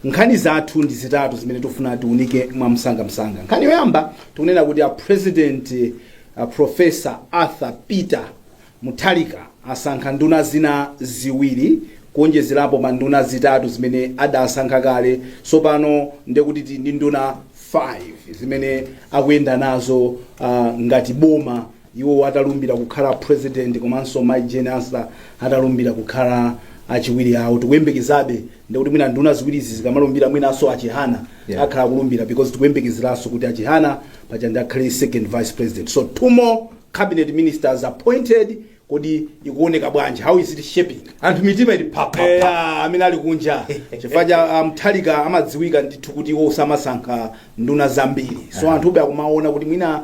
Nkhani zathu ndi zitatu zimene tifuna tiunike mwamsangamsanga. Nkhani yoyamba tikunena kuti a President a Professor Arthur Peter Mutharika asankha nduna zina ziwiri kuonjezerapo pa nduna zitatu zimene adasankha kale. Tsopano ndiye kuti tili ndi nduna 5 zimene akuyenda nazo ah, ngati boma Iwo atalumbira kukhala president komanso Mai Jane Ansah atalumbira kukhala achiwiri awo tikuyembekezabe ndekuti mwina nduna ziwirizi zikamalumbira mwinanso a Chihana Yeah. akhala akulumbira because tikuyembekezeranso kuti a Chihana paja ndi akhale second vice president so two more cabinet ministers appointed kodi ikuoneka bwanji how is it shaping anthu mitima ili phapha eya amene ali kunja chifukwa cha ah, a Mutharika amadziwika ndithu kuti iwo samasankha nduna zambiri so anthu ube akumaona kuti mwina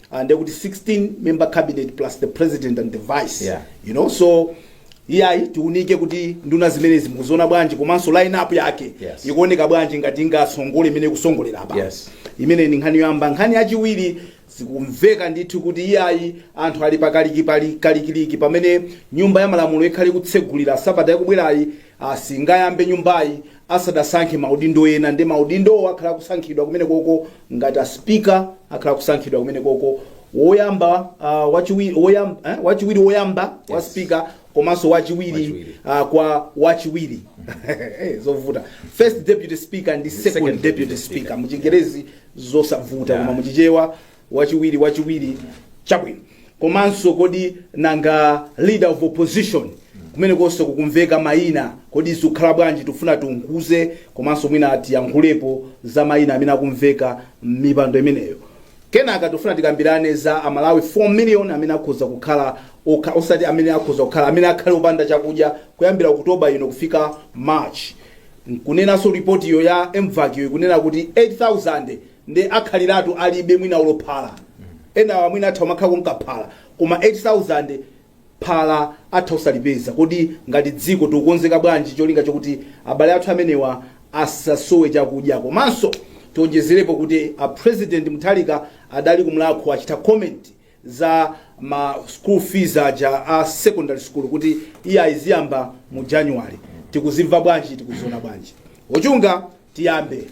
uh, ndiye kuti 16 member cabinet plus the president and the vice Yeah. you know so iyayi tiunike kuti nduna zimenezi mukuziona bwanji komanso line up yake Yes. ikuoneka bwanji ngati ingasongole imene ikusongolera apa Yes. imene ndi nkhani yoyamba nkhani yachiwiri zikumveka ndithu kuti iyayi anthu ali pakalikiliki pamene nyumba ya malamulo ikhale ikutsegulira sabata yakubwerayi asingayambe nyumbayi asadasankhe maudindo ena ndi maudindowo akhala akusankhidwa kumenekoko Ngati a Speaker akhala akusankhidwa kumenekoko, woyamba, ah, wachiwi, woyam, eh, wachiwiri woyamba kwa Yes. Speaker komanso wachiwiri Wachiwiri. ah, kwa wachiwiri Eh, zovuta first deputy speaker ndi second, second deputy deputy speaker speaker. muchingerezi zosavuta Yeah. koma muchichewa wachiwiri wachiwiri chabwino Komanso kodi nanga leader of opposition kumenekonso kukumveka maina kodi zikukhala bwanji tikufuna tiunguze komanso mwina tiyankhulepo za maina amene akumveka mmipando imeneyo kenaka tikufuna tikambirane za a Malawi 4 million amene akhoza kukhala osati amene akhoza kukhala amene akhale opanda chakudya kuyambira October ino kufika March kunenanso ripotiyo ya MVAC yo ikunena kuti 8000 nde akhaliratu alibe mwina olo phala enawa mwina atha kumakhala akumwako phala koma 8000 phala atha osalipeza kodi ngati dziko tikukonzeka bwanji cholinga chokuti abale athu amenewa asasowe chakudya komanso tionjezerepo kuti a president mutharika adali kumlakho achita comment za ma school fees aja a secondary school kuti iyayi ziyamba mu january tikuzimva bwanji tikuziona bwanji ochunga tiyambe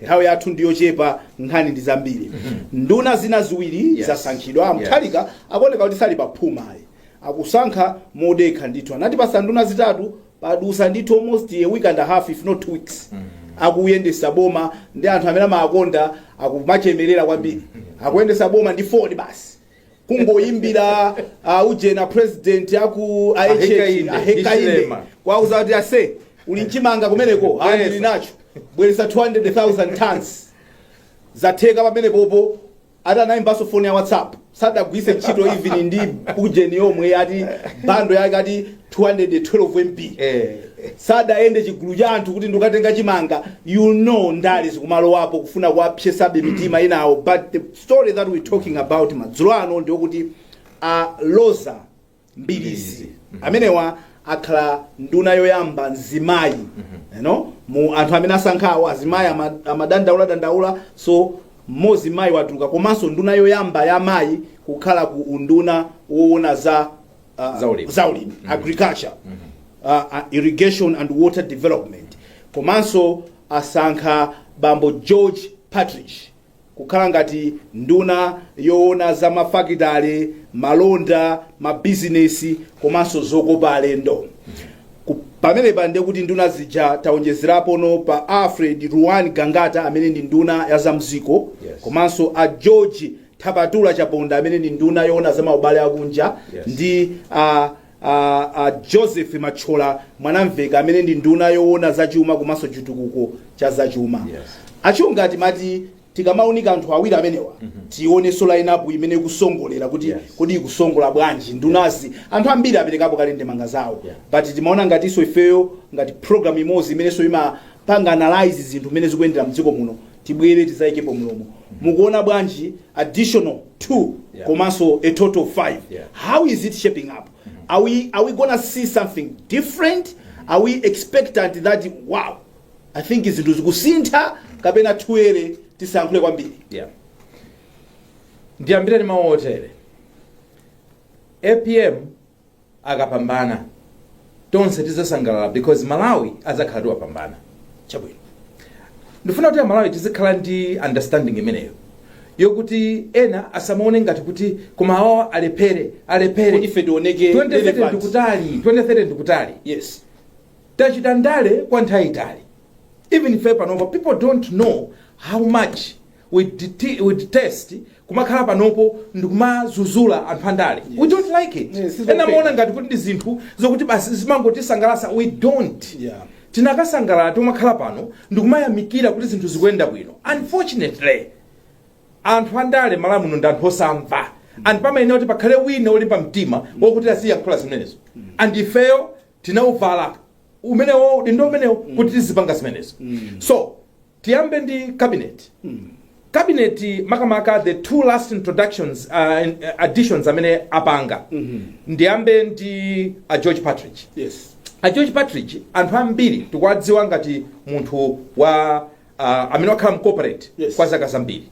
nthawi yathu ndiyochepa nkhani ndi zambiri nduna zina ziwiri Yes. zasankhidwa a Mutharika akuoneka kuti sali paphuma ayi akusankha modekha ndithu anatipasa nduna zitatu padusa ndithu almost a week and a half if not two weeks akuyendesa boma ndi anthu amene amakonda akumachemerera kwambiri akuyendesa boma ndi foni basi kungoyimbira uh, ujena president aku Ahekainde, ahekainde Hichilema. kuwauza kuti ase uli nchimanga kumeneko Bweresa. andili nacho bweresa 200000 tons zatheka pamenepopo atanayimbanso foni ya whatsapp sadagwiritse ntchito even ndi ujeni yomwe ati bando yake ati 212 mb Eh. sadayende chigulu cha anthu kuti nkukatenga chimanga you know ndale zikumalowapo kufuna kuwapsetsabe mitima inawo but the story that we're talking about madzulo ano ndiyokuti a Roza Mbilizi amenewa akhala nduna yoyamba mzimayi you know, mu anthu amene asankhawo azimayi ama- amadandaula dandaula so mmodzi mayi watuluka komanso nduna yoyamba ya mayi kukhala ku unduna woona za uh, Zaulimi. zaulimi agriculture uh, uh, irrigation and water development komanso asankha bambo George Partridge kukhala ngati nduna yoona za mafakitale, malonda, mabizinesi komanso zokopa alendo. Ku- Pamenepa ndiye kuti nduna zija taonjezerapono pa Alfred Ruan Gangata amene ndi nduna ya za mdziko Yes. komanso a George Thapatula Chaponda amene ndi nduna yoona za maubale akunja Yes. ndi a A a Joseph Mathyola Mwanamveka amene ndi nduna yowona za chuma komanso chitukuko cha za chuma. Yes. A Chunga timati tikamaunika anthu awiri amenewa tionenso line up imene ikusongolera kuti Yes. kodi ikusongola bwanji ndunazi anthu ambiri aperekapo kale ndemanga zawo Yeah. but timaona ngatinso ifeyo ngati program imodzi imenenso imapanga analyze zinthu mmene zikuyendera mdziko muno tibwere tizaikepo mlomo mukuona bwanji additional 2 Yeah. komanso a total 5 Yeah. how is it shaping up are we, are we gonna see something different are we expectant that wow i think zinthu zikusintha kapena tiyere tisankhule kwambiri yeah. ndiyambire ndi mawu otere apm akapambana tonse tizasangalala because malawi azakhala kuti wapambana chabwino ndifuna kuti amalawi tizikhala ndi understanding imeneyo yokuti ena asamaone ngati kuti koma awawa alephere Kuti alephere ife tioneke 2030 relevant. ndikutali 2030 ndikutali yes tachita ndale kwa nthawi itali even ife panopa people don't know how much we dete we detest kumakhala panopo ndikumazuzula anthu andale we don't like it Yes, it's ena okay. amaona ngati kuti ndi zinthu zokuti basi zimangotisangalasa we don't Yeah. tinakasangalala tomakhala pano ndikumayamikira kuti zinthu zikuyenda bwino unfortunately anthu andale Malawi muno ndi anthu osamva and pamayenera kuti pakhale wina olimba mtima wokuti aziyankhula zimenezo and ifeyo tinauvala umenewo udindo umenewo kuti tizipanga zimenezo so tiyambe ndi cabinet cabinet makamaka the two last introductions uh, in- additions amene apanga ndiyambe ndi a george partridge yes a george partridge anthu ambiri tikuwadziwa ngati munthu wa uh, amene wakhala mcorporate Yes. kwa zaka zambiri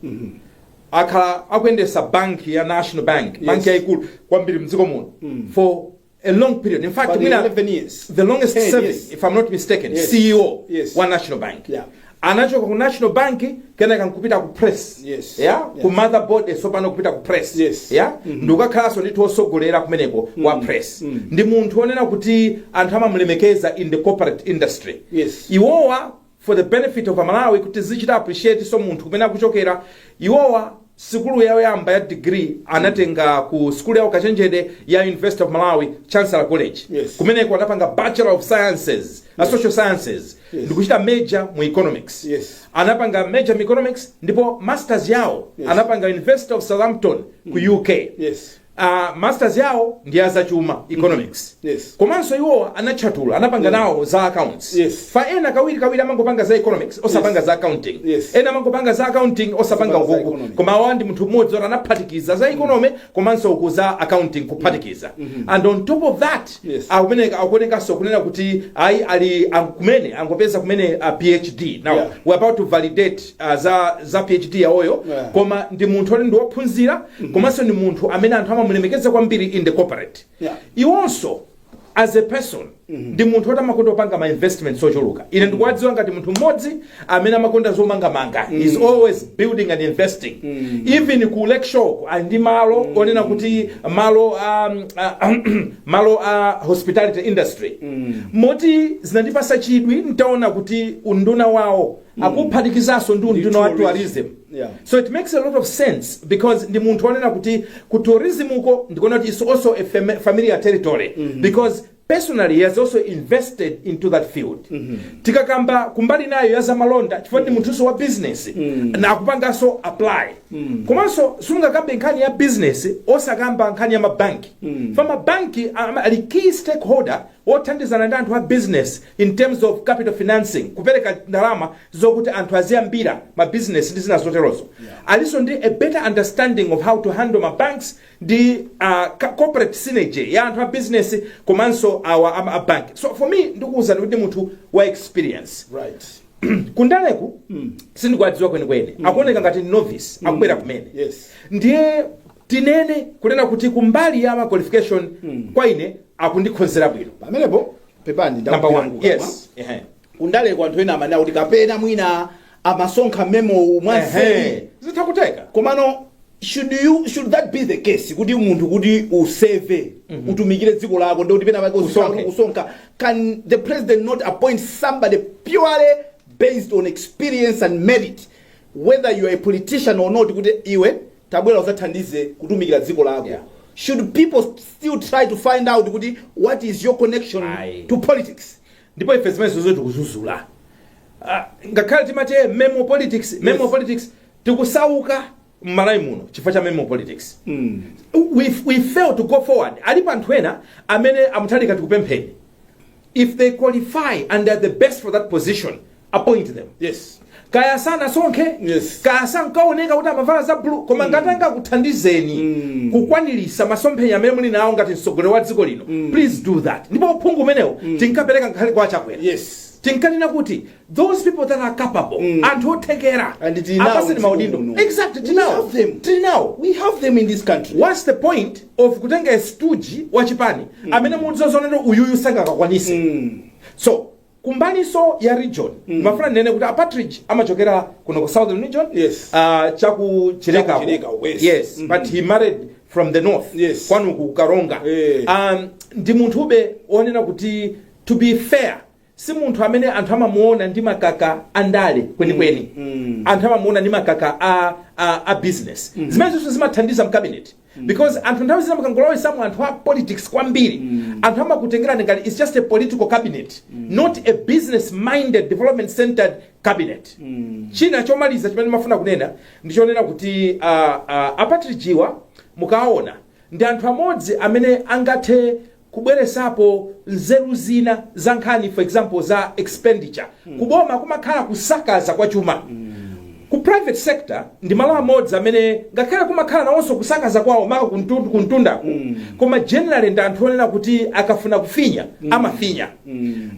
akhala akuyendesa banki ya national bank banki Yes. yayikulu kwambiri mdziko muno for a long period. In fact, But mwina 11 years. the longest 10 service, years. if I'm not mistaken, Yes. CEO Yes. wa National Bank. Yeah. Anachoka ku National Bank kenaka nkupita ku press. Yes. Yeah? Yeah. Ku motherboard eh, tsopano kupita ku press. Yes. Yeah? Ndikukakhalanso ndithu osogolera kumeneko wa press. Ndi munthu onena kuti anthu amamulemekeza in the corporate industry. Yes. Iwowa for the benefit of amalawi kuti tizichita appreciate so munthu kumene akuchokera iwowa sikulu yawo yoyamba ya degree anatenga ku sikulu ya ukachenjede ya university of malawi chancellor college Yes. kumeneko anapanga bachelor of sciences a social sciences Yes. ndikuchita major mu economics Yes. anapanga major mu economics ndipo masters yawo Yes. anapanga university of southampton ku uk yes Uh, masters yawo ndi ya zachuma economics mm -hmm. yes. komanso iwo anatchatula anapanga yeah. nawo za accounts yes. fa ena kawiri kawiri amangopanga za economics osapanga yes. za accounting yes. ena amangopanga za accounting osapanga ukuku koma awa ndi munthu mmodzi oti anaphatikiza za economy mm -hmm. komanso uku za accounting kuphatikiza mm -hmm. and on top of that yes. akumeneka akuonekanso kunena kuti ayi ali kumene angopeza kumene uh, phd now yeah. we're about to validate ah, za za phd yawoyo Yeah. koma ndi munthu oti ndi wophunzira komanso ndi munthu amene anthu amamulemekeza kwambiri in the corporate Yeah. iwonso as a person ndi munthu oti amakonda kupanga ma investments ochuluka ine ndikuwadziwa ngati munthu mmodzi amene amakonda zomangamanga he's always building and investing even ku lake shore ali ndi malo onena kuti malo um, uh, malo a hospitality industry moti zinandipasa chidwi ntaona kuti unduna wawo akuphatikizanso Ndi unduna wa tourism. tourism Yeah. so it makes a lot of sense because ndi munthu onena kuti ku tourism uko ndikuona kuti it's also a fam- familiar territory because personally he has also invested into that field tikakamba kumbali nayo ya zamalonda chifukwa ndi munthunso wa business na akupanganso apply komanso sungakambe nkhani ya business osakamba nkhani ya mabanki fa mabanki am- ali key stakeholder othandizana ndi anthu a business in terms of capital financing kupereka ndalama zokuti anthu aziyambira ma business ndi zina zoterozo alinso ndi a better understanding of how to handle ma banks ndi uh, ca- corporate synergy ya anthu a business komanso awa ama a bank so for me ndikuwuzani kuti ndi munthu wa experience right kundaleku sindikuwadziwa kwenikweni akuoneka ngati novice akubwera kumene yes ndiye tinene kunena kuti kumbali ya ma qualification kwa ine akundikhonzera bwino pamenepo pepani number ndakupira one mkukama. yes Ehe. kundale kwa anthu ena amanena kuti kapena mwina amasonkha memo Ehe. mwanseri zitha kutheka komano should you should that be the case kuti munthu kuti u-serve utumikire dziko lako ndi kuti pena pake uzikhala Usonke. kuti usonka can the president not appoint somebody purely based on experience and merit whether you are a politician or not kuti iwe tabwera uzathandize kutumikira dziko lako Yeah. should people still try to find out kuti what is your connection Aye. to politics ndipo ife zimene zozo tikuzuzula Ah, ngakhale timati eh, memo politics memo Yes. politics tikusauka m'Malawi muno chifukwa cha memo politics we, we fail to go forward alipo anthu ena amene a Mutharika tikupempheni if they qualify and they're the best for that position appoint them yes kaya sanasonkhe Yes. kaya sankaoneka kuti amavala za blue koma ngati angakuthandizeni kukwanirisa masomphenya amene muli nawo ngati mtsogoleri wa dziko lino please do that ndipo uphungu umenewo tinkapereka ngakhale kwa a Chakwera yes tinkanena kuti those people that are capable mm. anthu othekera apatseni maudindo exactly we have them tinao we have them in this country what's the point of kutenga stooge wa chipani mm. amene muziona kuti uyuyu sangakakwanise mm. so kumbaliso ya region mm. mafuna ndinene kuti a Partridge amachokera kuno ku southern region yes. uh, chaku Chileka Chileka west yes mm -hmm. but he married from the north yes. kwanu ku Karonga hey. um, ndi munthube onena kuti to be fair si munthu amene anthu amamuona ndi makamaka a ndale kwenikweni anthu amamuona ndi makamaka a, a, a business zimene zonse zimathandiza m'cabinet because anthu nthawi zina mukangolowesamo anthu a politics kwambiri anthu amakutengerani ngati it's just a political cabinet not a business minded development centered cabinet china chomaliza chimene mafuna kunena ndichonena kuti uh, uh, a Partridge-wa mukaona ndi anthu amodzi amene angathe kubweresapo nzeru zina za nkhani for example za expenditure ku boma kumakhala kusakaza kwa chuma ku private sector ndi malo amodzi amene ngakhale kumakhala nawonso kusakaza kwawo maka kuntu- kuntundako koma generally ndi anthu onena kuti akafuna kufinya amafinya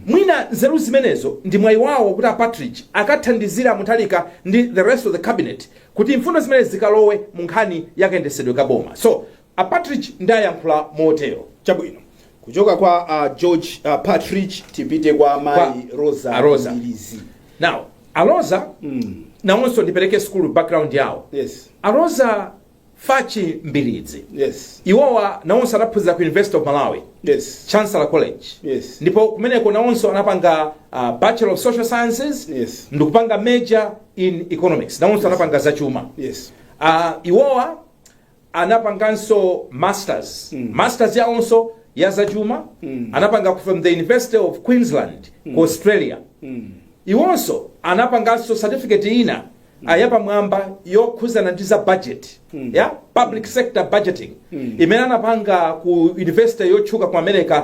mwina nzeru zimenezo ndi mwayi wawo kuti a Partridge akathandizira a Mutharika ndi the rest of the cabinet kuti mfundo zimenezi zikalowe mu nkhani yakayendesedwe ka boma so A Partridge nde ayankhula motero. Chabwino. Kuchoka kwa a George Partridge tipite kwa Kwa mayi Rosa a Rosa. Mbilizi. Now, a Rosa nawonso ndipereke school background yawo. Yes. A Rosa Fatch Mbilizi. Yes. Iwowa nawonso anaphunzira ku University of Malawi. Yes. Chancellor College. Yes. Ndipo kumeneko nawonso anapanga uh, Bachelor of Social Sciences Yes. ndikupanga major in economics. Nawonso anapanga zachuma. Yes. Uh, iwowa anapanganso masters masters yawonso ya zachuma anapanga ku- from the university of queensland ku australia iwonso anapanganso certificate ina ah, yapamwamba yokhuzana ndi za budget ya public sector budgeting imene anapanga ku university yotchuka ku america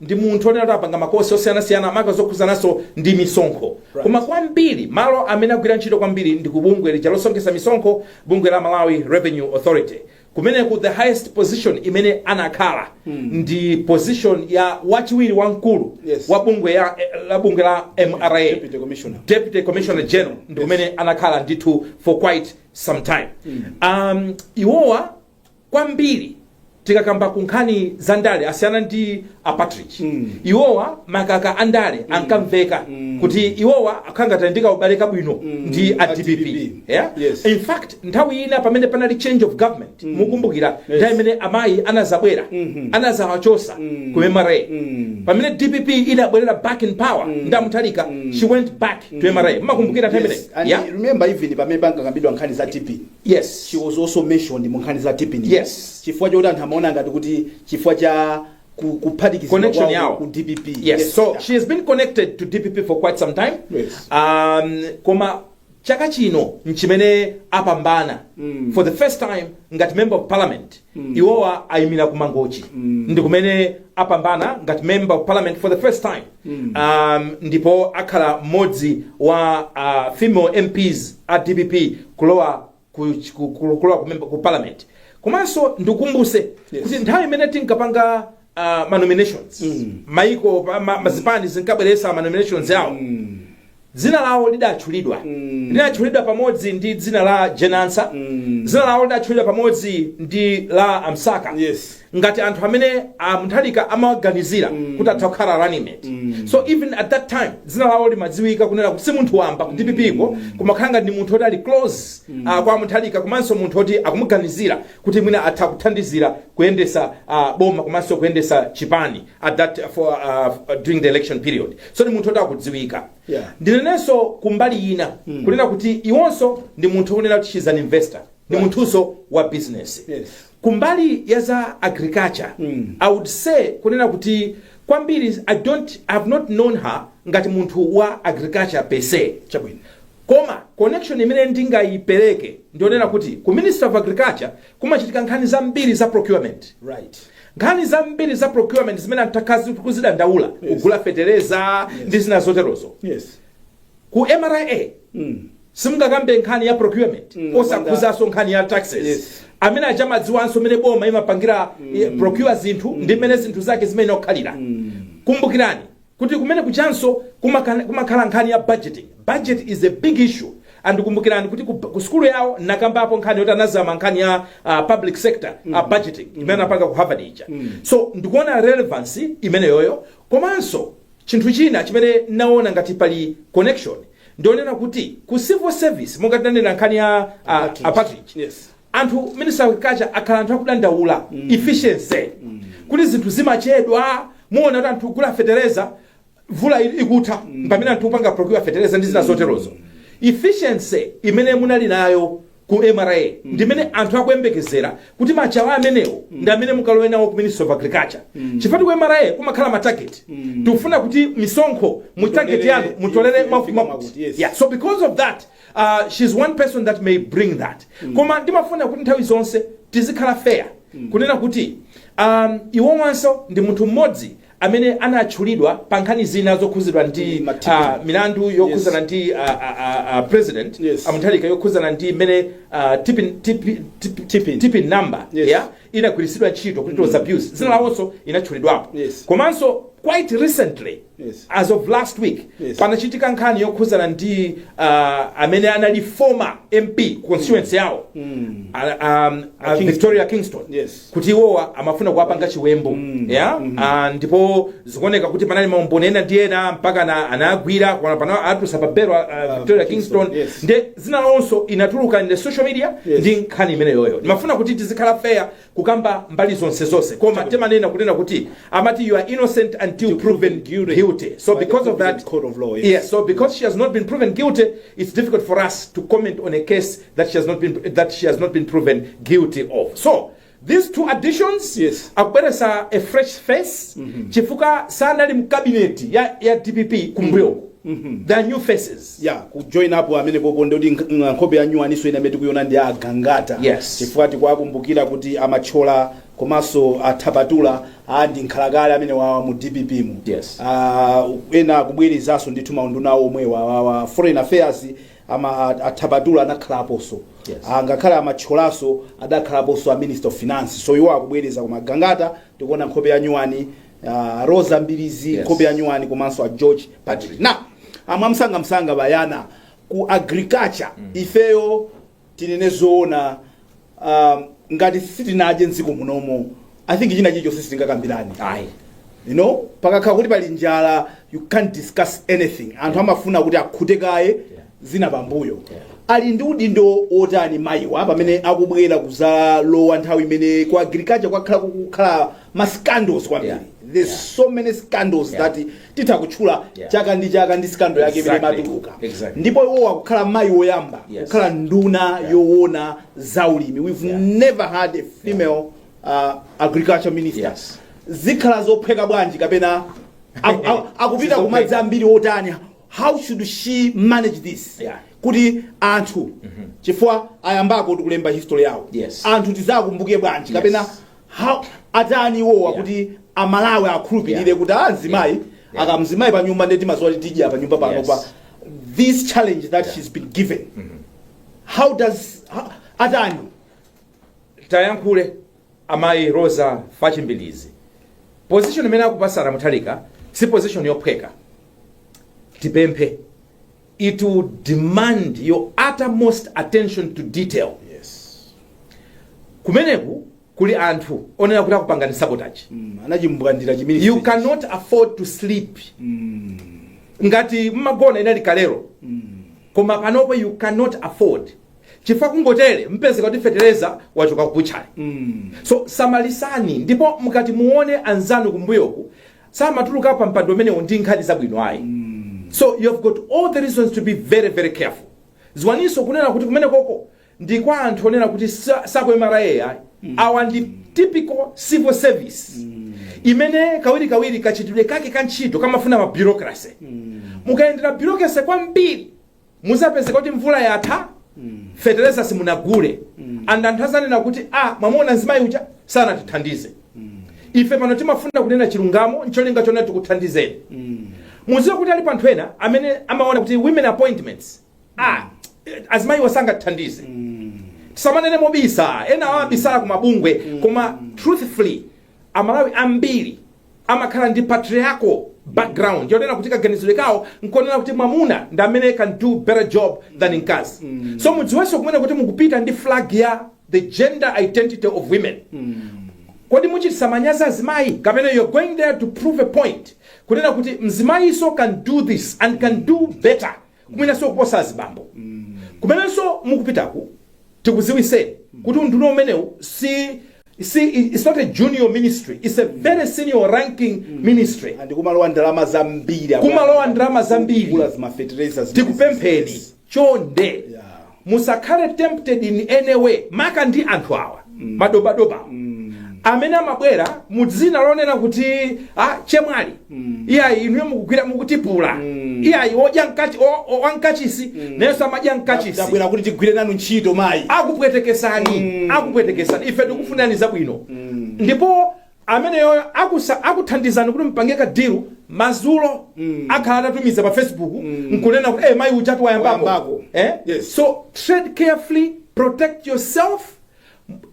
ndi munthu onena kuti apanga makosi osiyanasiyana maka zokhuzananso ndi misonkho koma kwambiri malo amene agwira ntchito kwambiri ndi ku bungwe lija losonkhetsa misonkho bungwe la malawi revenue authority kumeneku the highest position imene anakhala ndi position ya wachiwiri wamkulu Yes. wa bungwe ya la bungwe la mra Deputy Commissioner. deputy commissioner general ndi kumene anakhala ndithu for quite some time um, iwowa kwambiri tikakamba ku nkhani za ndale asiyana ndi a Partridge iwowa makaka andale ankamveka kuti iwowa akhala ngati ali ndi kaubale kabwino ndi a a DPP DPP. yeah? Yes. in fact nthawi ina pamene panali change of government mukumbukira nthawi imene amayi anazabwera anazawachosa ku MRA pamene DPP inabwerera back in power ndi a Mutharika she went back to MRA mumakumbukira nthawi Yes. imene And yeah? remember even pamene pankakambidwa nkhani za TPIN Yes. She was also mentioned mu nkhani za TPIN. Yes. Chifukwa choti anthu amaona ngati kuti chifukwa cha ku- kuphatikizidwa Connection kwawo yawo. ku DPP. Yes. So Yeah. she has been connected to DPP for quite some time. Yes. Um, koma chaka chino nchimene apambana for the first time ngati member of parliament iwowa ayimira ku mangochi ndi kumene apambana ngati member of parliament for the first time um, ndipo akhala mmodzi wa uh, female mps a dpp kulowa ku, ku, ku, kulowa ku, member- ku parliament komanso ndikumbuse kuti nthawi imene tinkapanga uh, ma nominations Mm. maiko pa- ma- mazipani zinkabweresa ma nominations awo Mm. dzina lawo lidatchulidwa Mm. lidatchulidwa pamodzi ndi dzina la jane ansah Mm. dzina lawo lidatchulidwa pamodzi ndi la a msaka Yes. ngati anthu amene a mutharika amawaganizira kuti atha kukhala running mate Mm. so even at that time dzina lawo limadziwika kunena kuti si munthu wamba ku dpp ko kumakhala ngati ndi munthu oti ali close ah, kwa mutharika komanso munthu oti akumuganizira kuti mwina atha kuthandizira kuyendetsa uh, boma komanso kuyendetsa chipani at that for uh, during the election period so ndi munthu oti akudziwika Yeah. ndinenenso kumbali ina mm. kunena kuti iwonso ndi munthu kunena kuti she's an investor ndi munthunso wa business Yes. kumbali ya za agriculture mm. i would say kunena kuti kwambiri i don't I have not known her ngati munthu wa agriculture per se chabwino Koma connection imene ndingaipereke ndi yonena kuti ku Ministry of Agriculture kumachitika nkhani zambiri za procurement. Right. Nkhani zambiri za procurement zimene anthu takhala tikuzidandaula Yes. kugula fetereza ndi zina zoterozo. Yes. Ku MRA Mm. simungakambe nkhani ya procurement Mm, osakhuzanso nkhani ya taxes Yes. amene aja amadziwanso mmene boma imapangira eh, procure zinthu ndi mmene zinthu zake zimakhalira kumbukirani kuti kumene kujanso kumakana- kumakhala nkhani ya budgeting budget is a big issue and kumbukirani kuti ku, ku sukulu yawo nakambapo nkhani yoti anazama nkhani ya uh, public sector mm. uh, budgeting imene anapanga ku harvard ija mm. so ndikuona relevance imeneyoyo komanso chinthu china chimene naona ngati pali connection ndionena kuti ku civil service monga tinanena nkhani ya uh, Package. package Yes. anthu ministry of agriculture akhala anthu akudandaula efficiency kuti zinthu zimachedwa muona kuti anthu kugula fetereza mvula ili- ikutha pamene anthu kupanga procure fetereza ndi zina zoterozo efficiency imene munali nayo ku mra ndimene anthu akuyembekezera kuti machawa amenewo ndi amene mukalowe nawo ku ministry of agriculture chifukwa ku mra kumakhala matageti timafuna kuti misonkho mu target yanu mutolere mwakuti yes. yeah. so because of that uh, she's one person that may bring that koma ndimafuna kuti nthawi zonse tizikhala fair kunena kuti um, iwowanso ndi munthu mmodzi amene anatchulidwa pa nkhani zina zokhuzidwa ndi Mm, matiku. uh, milandu yokhuzana Yes. ndi uh, uh, uh, uh, president Yes. a Mutharika yokhuzana ndi mmene uh, TPIN, TPIN, TPIN, TPIN. TPIN number Yes. yeah, inagwiritsidwa ntchito kuti it was abused dzina lawonso linatchulidwapo Yes. komanso quite recently Yes. as of last week Yes. panachitika nkhani yokhudzana ndi uh, amene anali former mp constituency yawo mm. uh, um, uh, Kingstone. Victoria Kingstone Yes. kuti iwowa amafuna kuwapanga chiwembu mm. yeah? mm -hmm. uh, ndipo zikuoneka kuti panali maumboni ena ndi ena mpaka na, anagwira koma pano awatulutsa pa belo uh, Victoria Kingstone, Kingstone yes. nde dzina lawonso linatuluka in the social media Yes. ndi nkhani imeneyoyo ndimafuna kuti tizikhala fair kukamba mbali zonse zonse koma Chabwino. timanena kunena kuti amati you are innocent until proven guilty. guilty so By the because of that competent court of law, yes. yes so because she has not been proven guilty it's difficult for us to comment on a case that she has not been that she has not been proven guilty of so these two additions Yes. akubweresa a fresh face chifukwa sanali mkabineti ya, ya dpp kumbuyoku the new faces ya kujoin apo ameneyo apo ndi yoti nkh- nkhope ya nyuwaninso ina imene tikuyiona ndi a Gangata Yes. chifukwa tikuwakumbukira kuti a Matola komanso a Chaponda a ndi nkhalakale amenewawa mu dpp mu Yes. Ah, ena akubwerezanso ndithu maunduna omwewa awawa foreign affairs ama a Chaponda anakhalaponso Yes. Ah, ngakhale a Matolanso adakhalaponso a minister of finance so iwo akubwereza koma a Gangata tikuona nkhope ya nyuwani uh, rosa mbilizi Yes. nkhope ya nyuwani komanso a george partridge now mwamsangamsanga bayana ku agriculture ifeyo tinene zoona um, ngati sitinadye mdziko munomo i think china chilichonse sitingakambirane ayi you know pakakhala kuti pali njala you can't discuss anything anthu amafuna kuti akhute kaye zina pambuyo ali ndi udindo wotani mayiwa pamene akubwera kuzalowa nthawi imene ku agriculture kwakhala kukukhala ma scandals kwambiri Yeah. there's Yeah. so many scandals Yeah. that titha kutchula Yeah. chaka ndi chaka ndi scandal yake imene Exactly. imatuluka Exactly. ndipo iwo akukhala mayi woyamba Yes. kukhala nduna Yeah. yowona za ulimi we've Yeah. never had a female uh, agriculture minister Yes. zikhala zophweka bwanji kapena aku- aku- akupita Sizophweka. kumadzi ambiri otani how should she manage this Yeah. kuti anthu chifukwa ayambako tikulemba history yawo Yes. anthu tizakumbuke bwanji Yes. kapena how atani iwowa Yeah. kuti amalawi akhulupirire Yeah. kuti amzimayi Yeah. Yeah. akamzimayi pa nyumba nde timaziwa kuti tidya pa nyumba pano Yes. pa this challenge that Yeah. she's been given how does how, atani tayankhule Amayi Roza Fachi Mbilizi, position imene akupasani a Mutharika si position yophweka. Tipemphe it will demand your uttermost attention to detail. Kumeneku kuli anthu onena kuti akupangani sabotage. Mm, anachimbwandira chimene You cannot afford to sleep. Ngati mmagona inali kalero. Koma panopo you cannot afford. chifukwa kungotere mpezeka kuti fetereza wachoka ku butchery so samalisani ndipo mukati muone anzanu kumbuyoku samatuluka pa mpando umenewu ndi nkhani zabwino ayi so you have got all the reasons to be very very careful ziwaninso kunena kuti kumenekoko ndi kwa anthu onena kuti sa- sa ku mra ayi awa ndi typical civil service imene kawirikawiri kachitidwe kake ka ntchito kamafuna mabureaucracy mukayendera bureaucracy kwambiri muzapeze kuti mvula yatha fetereza simunagule and anthu azanena kuti a mwamuona mzimayi uja sanatithandize ife pano timafuna kunena chilungamo ncholinga chona tikuthandizeni muziwe kuti alipo anthu ena amene amaona kuti women appointments a azimayiwa sangatithandize tisamanene mobisa ena abisala ku mabungwe koma truthfully amalawi ambiri amakhala ndi patriarchal background yonena kuti kaganizidwe kawo nkonena kuti mwamuna ndi amene can do better job than mkazi so mudziwenso kunena kuti mukupita ndi flag ya the gender identity of women kodi muchitisa manyazi azimayi kapena you're going there to prove a point kunena kuti mzimayiso can do this and can do better kumwenanso kuposa azibambo kumenenso mukupitaku tikuziwiseni kuti unduna umenewu si si it's not a junior ministry it's a very senior-ranking ministry and kumalowa ndalama zambiri Kumalowa ndalama zambiri. kugula ma fetereza zimene tikupempheni zisisi. chonde Yeah. Musakhale tempted in any way maka ndi anthu awa madobadoba awa amene amabwera mu dzina lonena kuti ah, chemwali iyayi inuyo mukugwira mukutipula iyayi odya mkachi- o- o- wa mkachisi nayenso amadya mkachisi abwera kuti tigwire nanu ntchito mayi akupwetekesani akupwetekesani ife tikufunani zabwino ndipo ameneyo akusa akuthandizani kuti mpange ka deal mazulo akhala atatumiza pa facebook nkunena kuti eh mayi ujatu wayambako Wayambako. eh Yes. so tread carefully protect yourself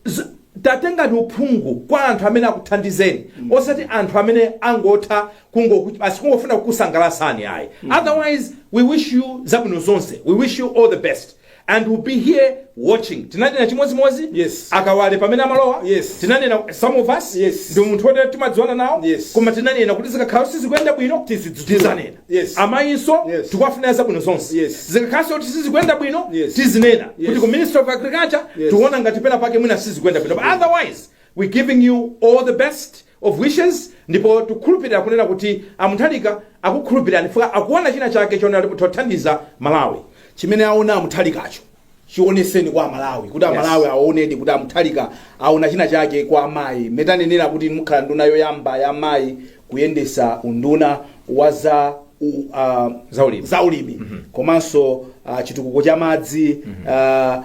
Z- tatengani uphungu kwa anthu amene akuthandizeni osati anthu amene angotha kungoku- basi kungofuna kukusangalasani ayi otherwise we wish you zabwino zonse we wish you all the best and we'll be here watching tinanena chimodzimodzi Yes. a Kawale pamene amalowa Yes. tinanena some of us Yes. ndi munthu woti timadziwana nawo Yes. koma tinanena kuti zikakhala sizikuyenda bwino Tizidzudzula. tizanena Yes. amayinso Yes. tikuwafunira zabwino zonse Yes. zikakhalanso kuti sizikuyenda bwino Yes. tizinena Yes. kuti ku ministry of agriculture Yes. tiona ngati pena pake mwina sizikuyenda bwino but otherwise we're giving you all the best of wishes ndipo tukhulupilira kunena kuti a Mutharika akukhulupilirani chifukwa akuona china chake chonena kuti tothandiza malawi chimene aona a Mutharikacho chioneseni kwa amalawi kuti amalawi aonedi kuti a Mutharika aona china chake kwa amayi mmene tanenera kuti mukhala nduna yoyamba ya amayi kuyendesa unduna wa za u- uh, Zaulimi. zaulimi komanso uh, chitukuko cha madzi uh,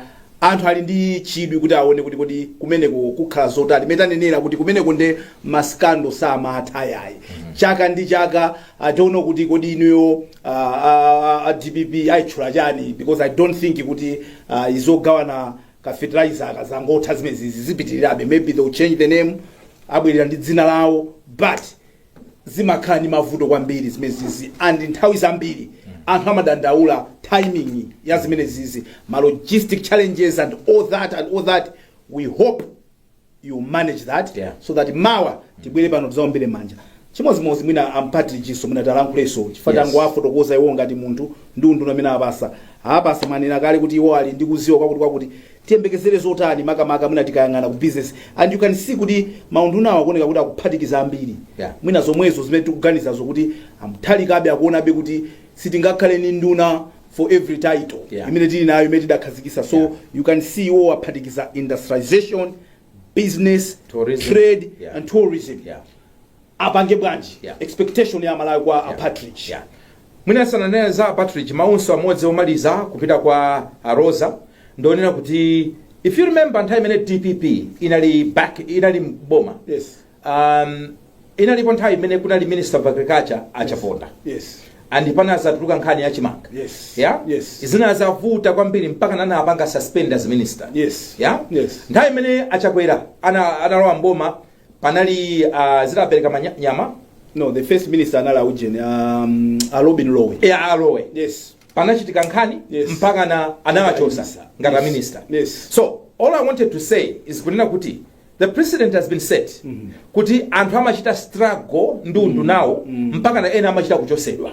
Anthu ali ndi chidwi kuti aone kuti kodi kumeneko kukhala zotani. Mmene tanenera kuti kumeneko nde ma scandal samatha yayi. Chaka ndi chaka I don't know kuti kodi inuyo uh, uh, uh, DPP ayitchula chani because I don't think kuti uh, izi zogawana ka fertilizer akazangotha zimene zizipitirirabe maybe they will change the name abwerera ndi dzina lawo but zimakhala ndi mavuto kwambiri zimenezizi and nthawi zambiri anthu amadandaula timing ya zimenezizi ma logistic challenges and all that and all that we hope you manage that Yeah. so that mawa tibwere pano tizaombere manja chimodzimodzi mwina a Partridge-so mwina talankhuleso chifukwa Yes. tangu afotokoza iwo ngati munthu ndi unduna amene apatsidwa apatsidwa mwanena kale kuti iwo ali ndi kuziwa kwakuti kwakuti Tiyembekezere zotani makamaka mwina tikayang'ana ku business and you can see kuti maundunawa akuoneka kuti akuphatikiza ambiri yeah mwina zomwezo zimene tikuganizazo kuti a Mutharikabe akuonabe kuti sitingakhale ndi nduna for every title yeah imene tili nayo imene tidakhazikisa so yeah you can see iwowo aphatikiza industrialisation business Tourism. trade Yeah. and tourism Yeah. apange bwanji Yeah. expectation ya malawi kwa a partridge Yeah. mwina sananena za partridge maunso amodzi omaliza kupita kwa a roza ndi onena kuti if you remember nthawi imene dpp inali back inali mboma yes um, inalipo nthawi imene kunali minister of agriculture achaponda yes and panazatuluka nkhani ya chimanga Yes. yeah? Yes. zinazavuta kwambiri mpakana anawapanga suspend as minister Yes. yeah? Yes. nthawi imene achakwera ana- analowa mboma panali uh, zinapereka manya- nyama no the first minister anali aujeni um, a robin lowe ya a lowe yes panachitika nkhani Yes. mpakana anawachosa Yes. ngati Yes. minister Yes. so all i wanted to say is kunena kuti The precedent has been set kuti anthu amachita struggle ndi undunawo mpakana ena amachita kuchosedwa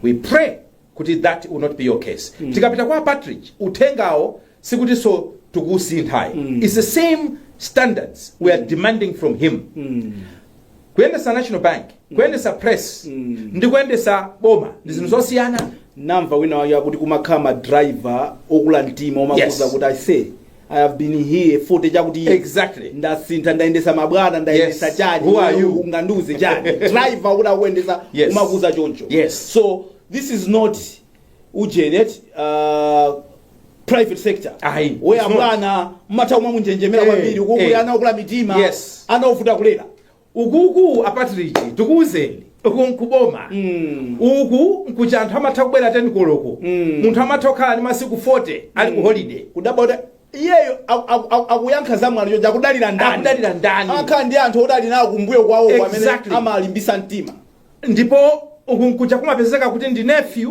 we pray kuti that will not be your case tikapita kwa partridge uthengawo sikutinso tikusintha ayi it's the same standards we are demanding from him kuyendesa national bank kuyendesa press ndi kuyendesa boma ndi zinthu zosiyana namva wina wake akuti kumakhala madriver okula mtima omakuuza Yes. kuti aise I have been here 40 chakuti years. Exactly. ndasintha ndayendesa mabwana ndayendesa Yes. chani Who are you? ungandiuze chani driver kuti akuyendesa Yes. kumakuuza choncho Yes. so this is not ujeni uh, private sector Ayi, where it's not. abwana mmatha kumamunjenjemera Eh, kwambiri eh. uku kuli ana okula mitima Yes. ana ovuta kulera ukuku a partridge tikuwuzeni uku nkuboma Mm. uku nkuja anthu amatha kubwera 10 koloko Mm. munthu amatha kukhala ndi masiku 40 ali ku holiday kudabwa kuti iyeyo aku- aku- aku- akuyankha za mwano chonchi akudalira ndani Akudalira ndani? akhala ndi anthu oti ali nawo kumbuyo kwawo amene Exactly. amalimbisa mtima ndipo uku nkuja kumapezeka kuti ndi nephew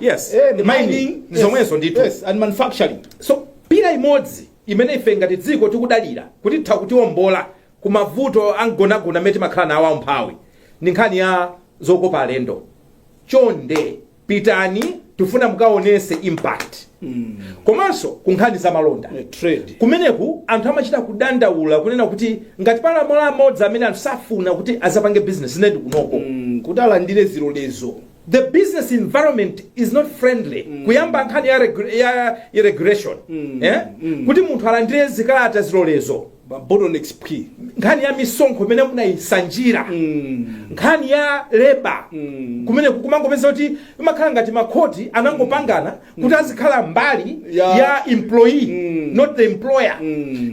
yes Eh, ndi mining mining. ndi Yes. zomwezo ndithu Yes, and manufacturing so pillar imodzi imene ife ngati dziko tikudalira kuti itha kutiombola ku mavuto amgonagona amene timakhala nawo aumphawi ndi nkhani ya zokopa alendo chonde pitani tifuna mukaonese impact komanso ku nkhani za malonda Eh, trade kumeneku anthu amachita kudandaula kunena kuti ngati pali malo amodzi amene anthu safuna kuti azapange business nde ndi kunoko Mm, kuti alandire zilolezo The business environment is not friendly kuyamba nkhani ya, regu- ya regulation eh? kuti munthu alandire zikalata zilolezo bottlenecks nkhani ya misonkho imene munayisanjira nkhani ya labour kumene kumangopeza kuti imakhala ngati makhoti anangopangana kuti azikhala mbali Ya. ya employee not the employer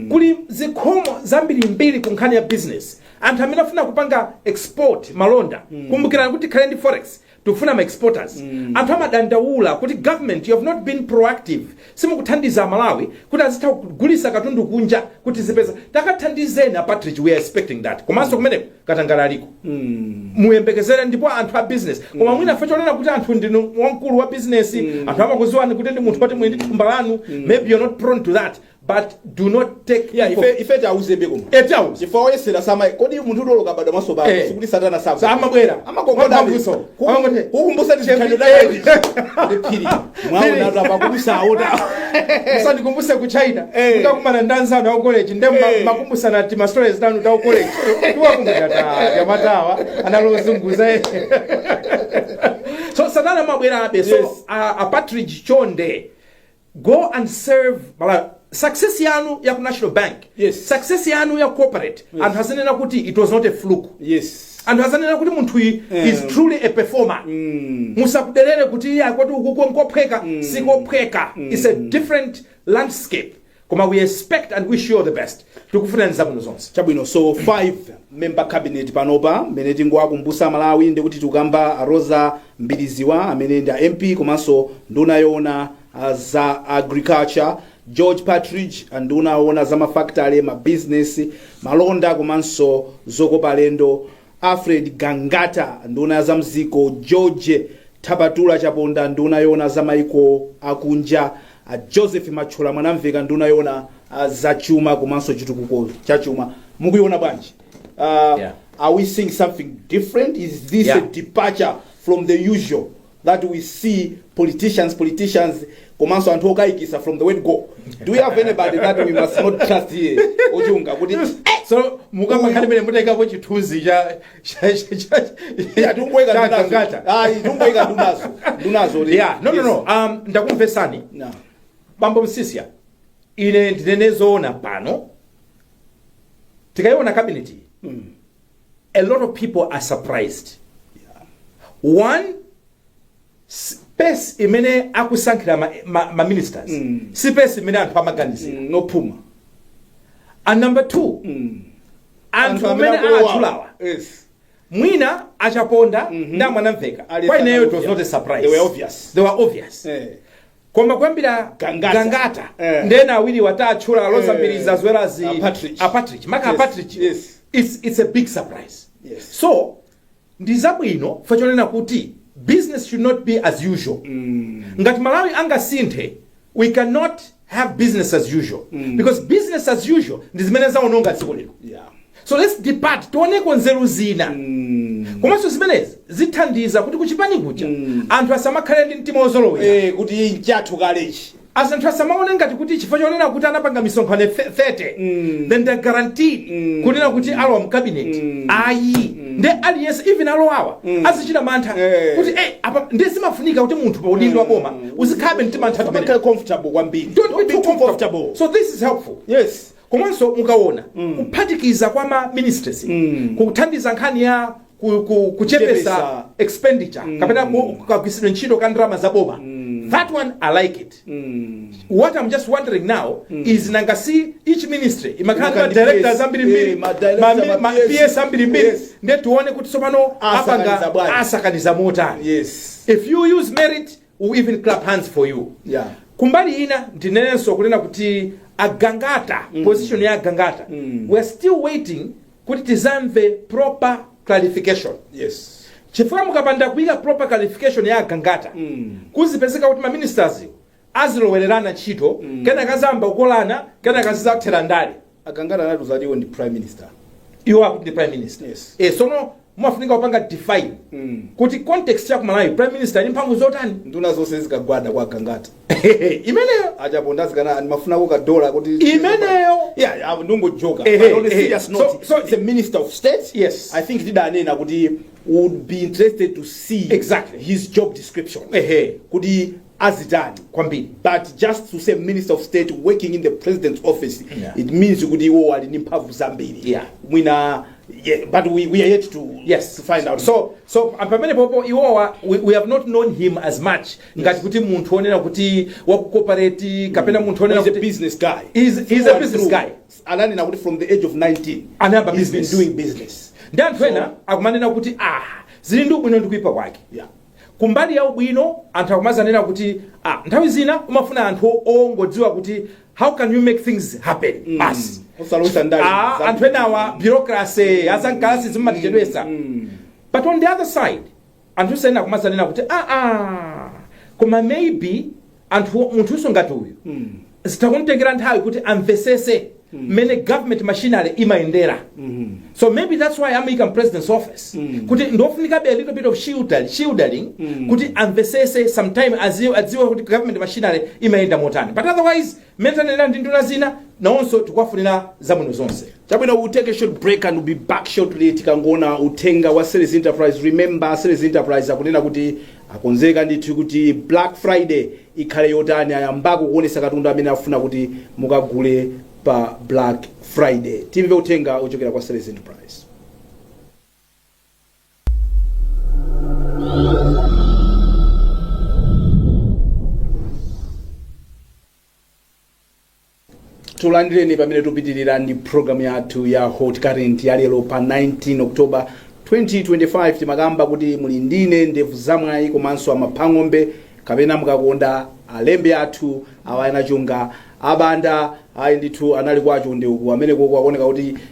kuli zikhomo zambirimbiri ku nkhani ya business anthu amene afuna kupanga export malonda kumbukirani kuti tikhale ndi forex tikufuna ma exporters anthu amadandaula kuti government you have not been proactive simukuthandiza malawi kuti azitha kugulisa katundu kunja kuti azipeza takathandizeni a patridge we are expecting that komanso kumeneko katangale aliko muyembekezere ndipo anthu a business koma mwina fa chonena kuti anthu ndinu wamkulu wa business anthu amakuziwani kuti ndi munthu woti muli ndi thumba lanu maybe you're not prone to that But do not take Yeah, people- ife ife tiauzebe koma. Eti awu. Chifukwa oyesa sama kodi munthu udoloka bado maso bado Eh. sikuti satana sabu. Sa amabwera. Amakongoda. Amakongoda. Amakongoda. Kukumbusa ndi chikhalidwe Chembi- dai. Ndi phiri. Mwaona atu apa kubusa auta. musandikumbuse ku china Eh. mukakumana ndi anzanu aku college nde mma- Eh. makumbusana ti ma stories tanu ta ku college timakumbuka ta jamatawa analozunguza eh. so satana amabwerabe so Yes. a, a patrick chonde go and serve malawi success yanu ya ku national bank Yes. success yanu ya corporate Yes. anthu azinena kuti it was not a fluke yes anthu azanena kuti munthuyi Eh. is truly a performer mm. musakudelere kuti iye akuti ukuko nkophweka mm. sikophweka mm. it's a different landscape koma we expect and wish you all the best tikufunirani zabwino zonse chabwino so 5 member cabinet panopa mmene tingowakumbusa amalawi ndikuti tikukamba a rosa mbilizi wa amene ndi a mp komanso nduna yoona ah, za agriculture george patridge ah, nduna yoona za mafactory mabizinesi malonda komanso zokopa alendo Alfred Gangata, nduna ya zam'dziko, George Thabatula Chaponda, nduna yoona za maiko akunja, a Joseph Mathyola Mwanamveka, nduna yoona za chuma komanso chitukuko cha chuma. Mukuiona bwanji? Uh, Yeah. Are we seeing something different? Is this Yeah. a departure from the usual? that we see politicians politicians komanso anthu okayikisa from the word go do we have anybody that we must not trust here ochunga kuti so mukamakhala imene mutayikapo chithunzi cha cha- cha- cha- atungoyika cha ndunazo Gangata. ayi tungoyika ndunazo ndunazo kuti- yeah no no no um ndakumvesani No. bambo msisya ine ndinene zoona pano tikayiona cabinet a lot of people are surprised one space imene akusankhira ma, ma, ma ministers mm. space imene anthu amaganizira mm. ndi ophuma and number two mm. anthu amene atchulawa yes. mwina achaponda mm -hmm. ndi amwanamveka Ali kwa ineyo it was Sanalovya. not a surprise They were obvious. they were obvious Eh. koma kuyambira Gangata. gangata Eh. ndi ena awiriwa tatchula a roza Eh. mbilizi as well as A Partridge. a Partridge. maka a Yes, Partridge. yes. It's, it's a big surprise Yes. so ndi zabwino fa chonena kuti business should not be as usual ngati malawi angasinthe we cannot have business as usual because business as usual ndi zimene zaononga dziko lino Yeah. So let's depart tioneko nzeru zina komanso zimenezi zithandiza kuti kuchipani kuja anthu asamakhale ndi mtima wozolowera Eh, kuti nchathu kalechi as anthu asamaone ngati kuti chifukwa chonena kuti anapanga misonkhano th- 30 then they guaranteed kunena kuti alowa mkabinet ayi nde aliyense even alowawa azichita mantha Eh. kuti eh, apa nde zimafunika kuti munthu pa udindo wa boma uzikhale mtima anthu atumene umakhala comfortable kwambiri Don't be too comfortable. So this is helpful. yes Komanso mukawona kuphatikiza kwa ma ministries kuthandiza nkhani ya ku- ku- kuchepetsa Kuchepetsa. expenditure kapena ku- kagwiritsidwe ntchito ka ndalama za boma that one i like it what i'm just wondering now is nanga si each ministry imakhala ndi ma Imakhala ndi directors PS, ambirimbiri eh, ma directors, ma mi- ma ma PS. PS ambirimbiri Yes. ndiye tione kuti tsopano Asakaniza apanga bwanji. asakaniza motani yes if you use merit we even clap hands for you Yeah. kumbali ina ndinenenso kunena kuti agangata position ya agangata we're still waiting kuti tizamve proper clarification Yes. chifukwa mukapanda kuika proper clarification ya agangata kuzipezeka kuti maministers azilowererana ntchito kenaka zayamba kukolana kenaka zizathera ndale A Gangata anatiuza kuti iwo ndi prime minister. Iwo akuti ndi prime minister. Yes. Eh, sono mumafunika kupanga define Mm. kuti context ya ku Malawi prime minister ali ndi mphamvu zotani? Nduna zonse zikagwada kwa Gangata. Imeneyo. A Chaponda azikanena ndimafunako ka dollar kuti Imeneyo. Yeah, yeah, ndongojoka. Eh, But on a eh, serious so- note, so- it's a minister of state. Yes. I think ndidanena kuti would be interested to see Exactly. his job description. Ehe. Kuti azitani kwambiri but just to say minister of state working in the president's office Yeah. it means kuti iwo ali ndi mphamvu zambiri Yeah. mwina yeah, but we, we are yet to, yes to find out so so pamene popo iwowa we, we have not known him as much ngati kuti munthu onena kuti waku corporate kapena munthu onena he's a kuti business guy He's- he's a business guy. ananena kuti from the age of 19 Anayamba he's been business. doing business ndi anthu ena akumanena kuti ah zili ndi ubwino ndi kuipa kwake Yeah. Kumbali ya ubwino anthu akumazanena kuti ah nthawi zina umafuna anthu ongodziwa kuti how can you make things happen basi Osalowetsa ndale. Ah, anthu enawa bureaucracy za mkalasi zimatichedwetsa but on the other side anthu ena akumazanena kuti aa koma maybe anthu munthunso ngati uyu zitha kumtengera nthawi kuti amvetsetse mmene government machinery imayendera so maybe that's why amuyika mpresident's office kuti ndofunikabe a little bit of shielding, shielding kuti amvetsetse sometime aziwe, adziwe kuti government machinery imayenda motani but otherwise mmene tanenera ndi nduna zina nawonso tikuwafunira zabwino zonse chabwino we'll take a short break and we'll be back shortly tikangoona uthenga wa series enterprise remember series enterprise akunena kuti Akonzeka ndithu kuti Black Friday ikhale yotani? Ayambako kuonesa katundu amene afuna kuti mukagule pa Black Friday? Timve uthenga ochokera kwa Sales Enterprise. tulandireni pamene tupitirira ndi programu yathu ya hot current ya lero pa 19 october 2025 timakamba kuti muli ndine ndevu zamwayi komanso amaphang'ombe kapena mukakonda alembe athu awa anachunga abanda ayi ndithu anali kwa chonde uku amene koko akuoneka kuti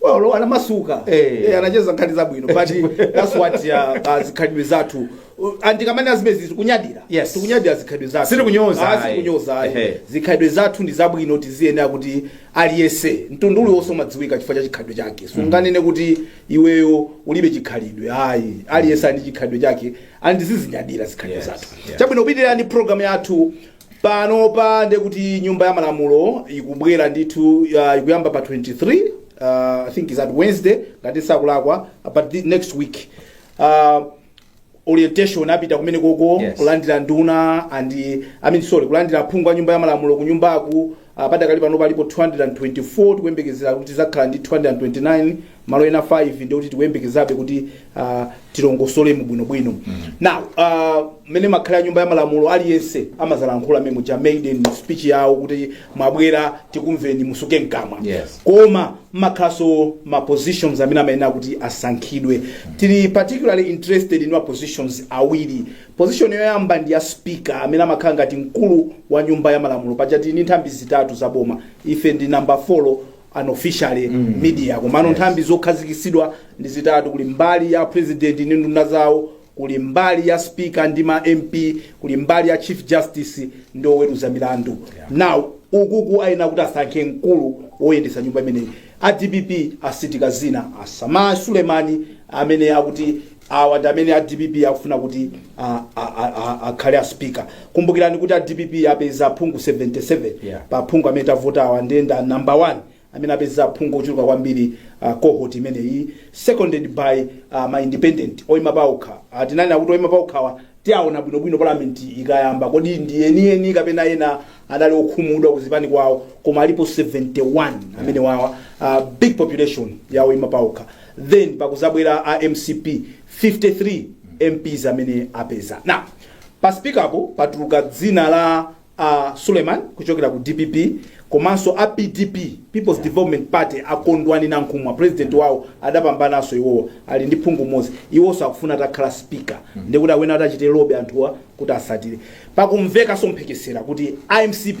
Well, anamasuka Eh. Eh, anacheza nkhani zabwino but that's what uh, uh, zikhalidwe zathu Uh, and tikamanena zimenezi tikunyadira Yes. tikunyadira zikhalidwe zathu Sitikunyoza, Ah, ayi. sitikunyoza ayi. Ehe. zikhalidwe zathu ndi zabwino tiziyenera kuti aliyese mtundu uliwonse umadziwika chifukwa cha chikhalidwe chake sunganene kuti iweyo ulibe chikhalidwe ayi aliyese ali ndi chikhalidwe chake and tizizinyadira zikhalidwe Yes, zathu yes. chabwino tupitirira ndi program yathu Panopa ndiye kuti nyumba ya malamulo ikubwera ndithu uh, ikuyamba pa 23 uh, I think it's a Wednesday ngati sakulakwa but next week uh, orientation apita kumene koko Yes. kulandira nduna and I mean sorry kulandira aphungu a nyumba ya malamulo ku nyumbaku uh, padakali panopa alipo 224 tikuyembekezera kuti tizakhala ndi 229 malo ena 5 ndiye kuti tikuyembekezabe kuti uh, tilongosolemo bwinobwino now uh, mmene imakhalira nyumba ya malamulo aliyense amazalankhula mmene muja maiden speech yawo kuti mwabwera tikumveni musuke mkamwa Yes. koma kumakhalaso ma positions amene amayenera kuti asankhidwe tili particularly interested in ma positions awiri position yoyamba ndi ya speaker amene amakhala ngati mkulu wa nyumba ya malamulo paja tili ndi nthambi zitatu za boma ife ndi number 4 unofficially mm. media komano yes. nthambi zokhazikisidwa ndi zitatu kuli mbali ya president ndi nduna zawo kuli mbali ya speaker ndi ma mp kuli mbali ya chief justice ndi oweruza milandu yeah. now ukuku ayenera kuti asankhe mkulu woyendetsa nyumba imeneyi a dpp asitika dzina a sameer sulemani amene akuti Awa ndi amene a dpp akufuna kuti akhale a speaker. Kumbukirani kuti a dpp apeza aphungu 77 yeah. pa aphungu amene tavotawa ndiye ndi a number 1 amene apeza aphungu ochuluka kwambiri uh, cohort imeneyi seconded by uh, ma independent oyima paokha. Uh, tinanena kuti oyima paokhawa tiaona bwinobwino parliament ikayamba kodi ndi enieni kapena ena anali okhumudwa kuzipani kwawo koma alipo 71 amenewawa uh, big population ya oyima paokha. then pakuzabwera a mcp 53 mps amene apeza now pa spikapo patuluka dzina la uh, suleiman kuchokera ku dpp komanso a pdp peoples development party akondwani nankhumwa president wawo adapambananso iwowo ali ndi phungu mmodzi iwonso akufuna atakhala spika ndikuti awina atachita lobby anthuwa kuti atsatire pakumvekanso mphekesera kuti a mcp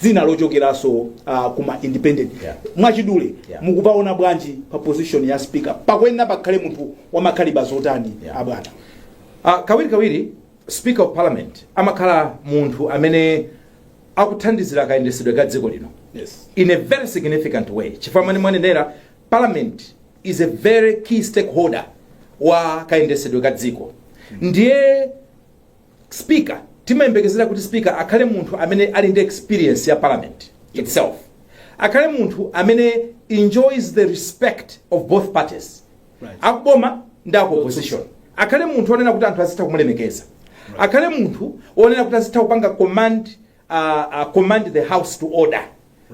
dzina lochokeraso uh, kuma independent Yeah. mwachidule Yeah. mukupaona bwanji pa position ya speaker pakuyenera pakhale munthu wamakaliba zotani Yeah. abwana Ah, kawiri kawiri speaker of parliament amakhala munthu amene akuthandizira kayendesedwe ka dziko lino yes in a very significant way chifukwa mani mwanenera parliament is a very key stakeholder wa kayendesedwe ka dziko ndiye speaker timayembekezera kuti speaker akhale munthu amene ali ndi experience ya parliament itself akhale munthu amene enjoys the respect of both parties Right. akuboma ndi aku opposition akhale munthu onena kuti anthu azitha kumulemekeza akhale munthu onena kuti azitha kupanga command uh, uh, command the house to order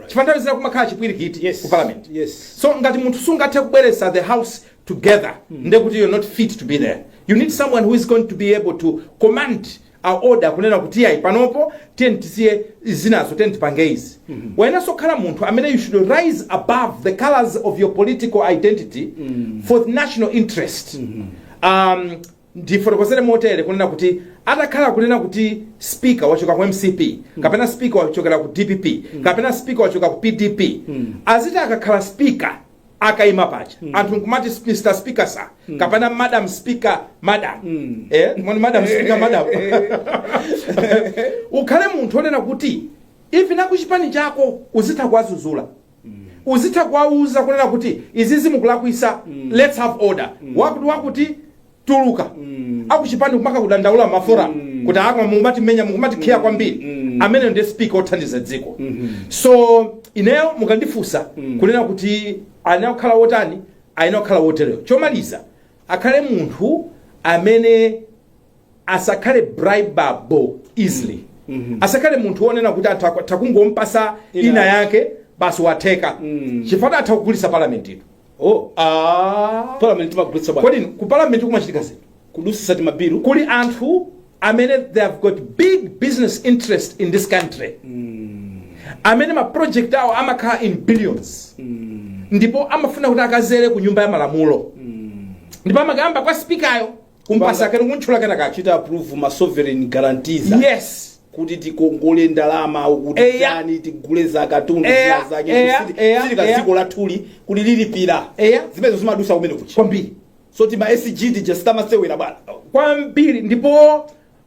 chifukwa nthawi zina kumakhala chipwirikiti Yes. ku parliament Yes. so ngati munthu sungathe kubweretsa the house together nde kuti you're not fit to be there you need someone who is going to be able to command order kunena kuti ayi panopo tiyeni tisiye zinazo tiyeni tipange izi wayenanso kukhala munthu amene you should rise above the colors of your political identity for the national interest um, ndifotokozere motere kunena kuti atakhala kunena kuti speaker wachoka ku mcp kapena speaker wachokera ku dpp kapena speaker wachoka ku pdp aziti akakhala speaker akaima paja anthu nkumati mr speaker sir kapena madam speaker madam eh moni madam speaker madam ukhale munthu onena kuti even akuchipani chako uzitha kuwazuzula uzitha kuwauza kunena kuti izizi mukulakwitsa lets have order wakuti wakuti tuluka akuchipani kumakakudandaula ma forum kuti akwa mukumatimenya mukumatikhiya kwambiri amene ndi speaker othandiza dziko so ineyo mukandifusa kunena kuti ayenera kukhala wotani ayenera kukhala wotereyo chomaliza akhale munthu amene asakhale bribable easily asakhale munthu wonena kuti anthu akwa- takungompasa Ina ina yake. yake basi watheka chifukwa atha kugulitsa parliament ija oh ah. parliament timagulitsa bwana kodi ku parliament kumachitika zinthu kudutsitsa timabilu kuli anthu amene they have got big business interest in this country amene ma project awo amakhala in billions ndipo amafuna kuti akazere ku nyumba ya malamulo ndipo amakayamba kwa spikayo kumpasa kena kuntchula kena kacho chita approve ma sovereign guarantees yes kuti tikongole ndalama Eya. ukutani tigule zakatundu Eya, zake eya, kusiti- eya, sili ka eya. dziko lathu lili kuti lilipira Eya. zimenezo zimadutsa kumene kuchi kwambiri so ti ma SG tija sitimasewera bwana kwambiri ndipo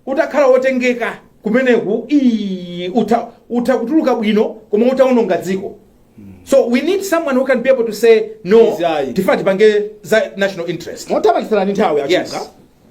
utakhala wotengeka kumeneku ii, utha, utha kutuluka bwino koma utaononga dziko so we need someone who can be able to say no Yes, ayi. tifuna tipange za national interest motapanikizana nthawi a Chuka Yes.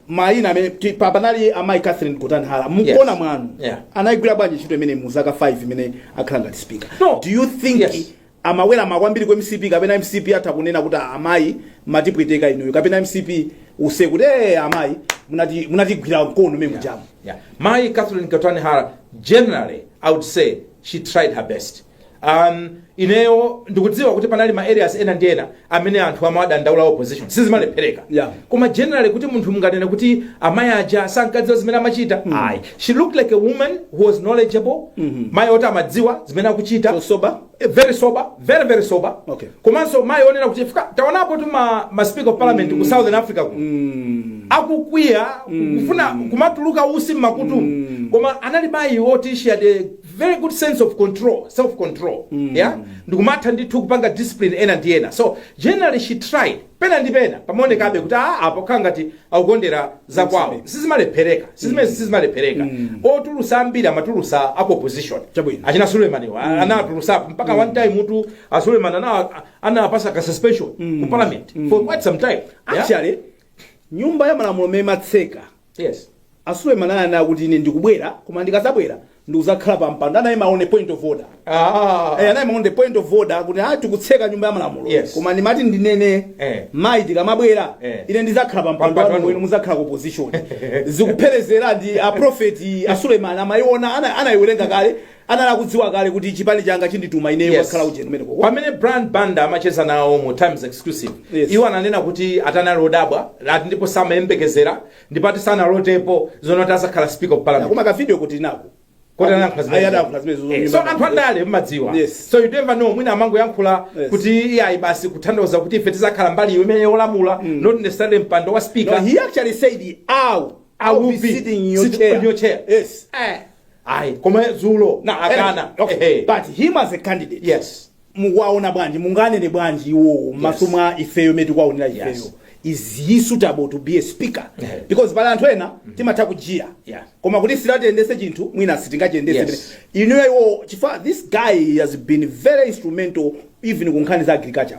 mayina amene ti- pa- panali amayi catherine Gotani Hara mukuona Yes. mwa inu Yeah. anayigwira bwanji ntchito imeneyi mu zaka 5 imene akhala ngati speaker No. do you think Yes. Amaweramira kwambiri ku mcp kapena mcp atha kunena kuti aa amayi mmatipweteka inuyo kapena mcp use kuti ee amayi munati- munatigwira mkono mmene mujamu Yeah. Mayi Catherine Gotani Hara, generally, I would say she tried her best. Um, ineyo ndikudziwa kuti panali ma areas ena ndi ena amene anthu amawadandaula opposition sizimalephereka Yeah. koma generally kuti munthu munganene kuti amayi aja sankadziwa zimene amachita ayi she looked like a woman who was knowledgeable mayi oti amadziwa zimene akuchita So sober? Eh, very sober very very sober Okay. komanso mayi onena kuti chifukwa taonapotu ma, ma speaker of parliament ku southern africa kuno akukwiya kufuna kumatuluka utsi mmakutu koma anali mayi oti she had a very good sense of control self control mm. yeah ndikumatha ndithu kupanga discipline ena ndi ena so generally she tried pena ndi pena pamaonekabe kuti a apo khala ngati akukondera za kwawo sizimalephereka sizimene sizimalephereka otulutsa ambiri amatulutsa a ku opposition Chabwino. achina sulemani mm. anatulutsapo mpaka one time muntu a suleman ana anapatsa ka suspension ku parliament for quite some time yeah? actually nyumba ya malamulo m'mene amatseka Yes. A Suleiman ananena kuti ine ndikubwera koma ndikazabwera ndikuzakhala pa mpando anayima on a point of order. Ah. Eh, anayima on the point of order kuti ah tikutseka nyumba ya malamulo. Yes. Koma ndimati ndinene Eh. mayi tikamabwera Eh. ine ndizakhala pa mpando Pampando. wanu inu muzakhala ku opposition. Zikupherezera, ndi a prophet a Suleiman amayiona ana anayiwerenga kale anali akudziwa kale kuti chipani changa chindituma ineyo Yes. kukhala ujeni kumeneko pamene brian banda amacheza nawo mu times exclusive Yes. iwo ananena kuti atanali odabwa ati ndipo samayembekezera ndipo ati sanalotapo zoona kuti azakhala speaker of parliament koma kavidiyo tili nako Kuti anayankhula zimene- Ayi, anayankhula zimenezo atayima. Eh, so anthu andale mmadziwa Yes. so you never know mwina amangoyankhula Yes. kuti iyayi basi kutanthauza kuti ife tizakhala mbali iyo imene yolamula not necessarily mpando wa No, speaker he actually said, "Ow, I will be sitting in your Sit chair." on your chair. Yes. Eh. ayi koma dzulo Now, akana eh, okay. Ehe. But him as a candidate, yes mukuwaona bwanji munganene bwanji iwowo m'maso Yes. mwa ifeyo mmene tikuwaonera ifeyo Yes. is he suitable to be a speaker Yeah. because pali anthu ena timatha kujiya-jiya Yeah. koma kuti si atiyendetse chinthu mwina sitingachiyendetse Yes. inuyo iwo chifukwa this guy has been very instrumental even ku nkhani za agriculture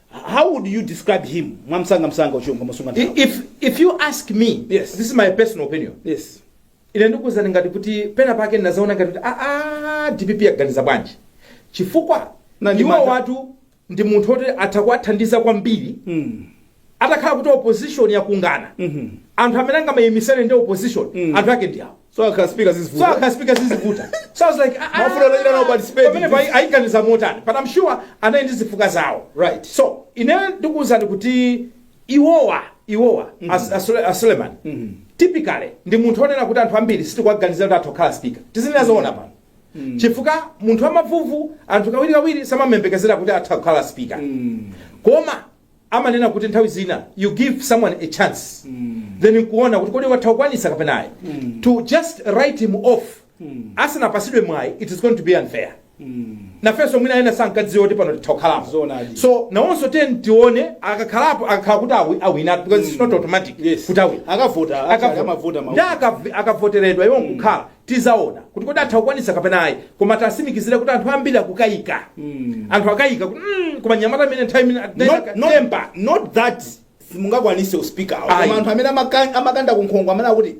how would you describe him mwamsanga msanga uchiwona ngomasunga I- nthawi if, if you ask me Yes. this is my personal opinion yes ine ndikuwuzani ngati kuti pena pake ndinazaona ngati kuti aa dpp yaganiza bwanji chifukwa Na ndi iwo mantha. watu ndi munthu oti atha kuwathandiza kwambiri mm. atakhala kuti opposition yakungana Mhm. anthu amene angamayimisane ndi opposition Mm. anthu ake ndi awo so akhala speaker so zizivuta akhala speaker zizivuta so i was like ah, ah, Mafuna anachita nawo participate. pamene pa ayiganiza motani but i'm sure anali ndi zifukwa zawo Right. so ine ndikuwuzani kuti iwowa iwowa as- a Sule- a Suleman typically ndi munthu onena kuti anthu ambiri sitikuwaganiza kuti atha kukhala speaker tizinena zoona pano chifukwa munthu wamavuvu anthu kawirikawiri samamembekezera kuti atha kukhala speaker koma amanena kuti nthawi zina you give someone a chance then nkuona kuti kodi atha kukwanisa kapena ayi to just write him off asanapasidwe mwayi it is going to be unfair nafenso mwina ena sankadziwa kuti pano titha kukhalapo Zoonadi. so nawonso ten tione akakhalapo akakhala kuti awi- awina because it's not automatic Yes. kuti awina akavota akavota akavota ma- nda akavoteredwa iwo nkukhala tizaona kuti kodi atha kukwanisa kapena ayi koma tasimikizire kuti anthu ambiri akukayika anthu akayika kuti mm, koma nyamata amene nthawi imene not, not, temper not that simungakwanise uspika Ayi. koma anthu amene amaka- amakanda kunkhongo amene akuti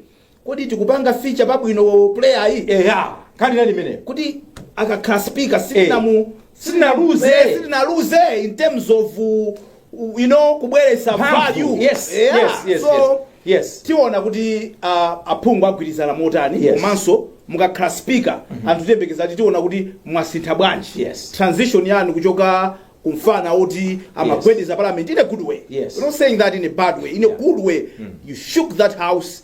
kodi tikupanga feature pabwino player iyi eya nkhani yake ndi imeneyo kuti akakhala speaker sitinamu sitinaluze. sitinaluze in terms of uh, u- you know kubweretsa Mphamvu. value Yes, Yeah. yes, yes, so yes. Yes. tiona kuti uh, aphungu agwirizana motani Yes. komanso mukakhala speaker anthu tiyembekeza kuti tiona kuti mwasintha bwanji Yes. transition yanu kuchoka kumfana oti amagwedeza parliament in a good way Yes. We're not saying that in a bad way in a good way you shook that house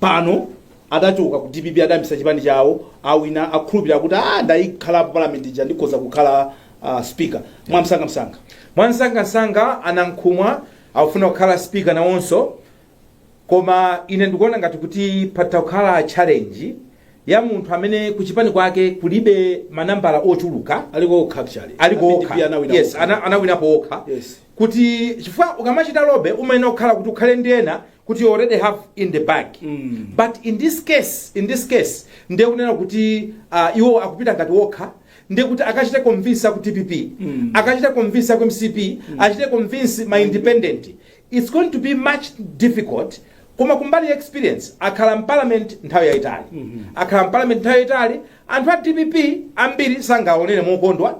pano adachoka ku dpp adayambisa chipani chawo awina akukhulupirira kuti a ndayikhala pa parliament ija ndikhoza kukhala uh, speaker mwamsangamsanga mwansangansanga anankhumwa akufuna kukhala speaker nawonso koma ine ndikuona ngati kuti patha kukhala challenge ya munthu amene kuchipani kwake kulibe manambala ochuluka aliko okha actually aliko Amene okha DP anawina yes okha. ana- anawinapo okha Yes. kuti chifukwa ukamachita lobby umayenera kukhala kuti ukhale ndi ena kuti you already have in the bag but in this case in this case ndiye kunena kuti uh, iwo akupita ngati okha ndiye kuti akachite convince aku dpp akachite convince aku mcp achite convince ma independent it's going to be much difficult koma kumbali ya experience akhala mparliament nthawi yayitali akhala mparliament nthawi yayitali anthu a dpp ambiri sangaonere mokondwa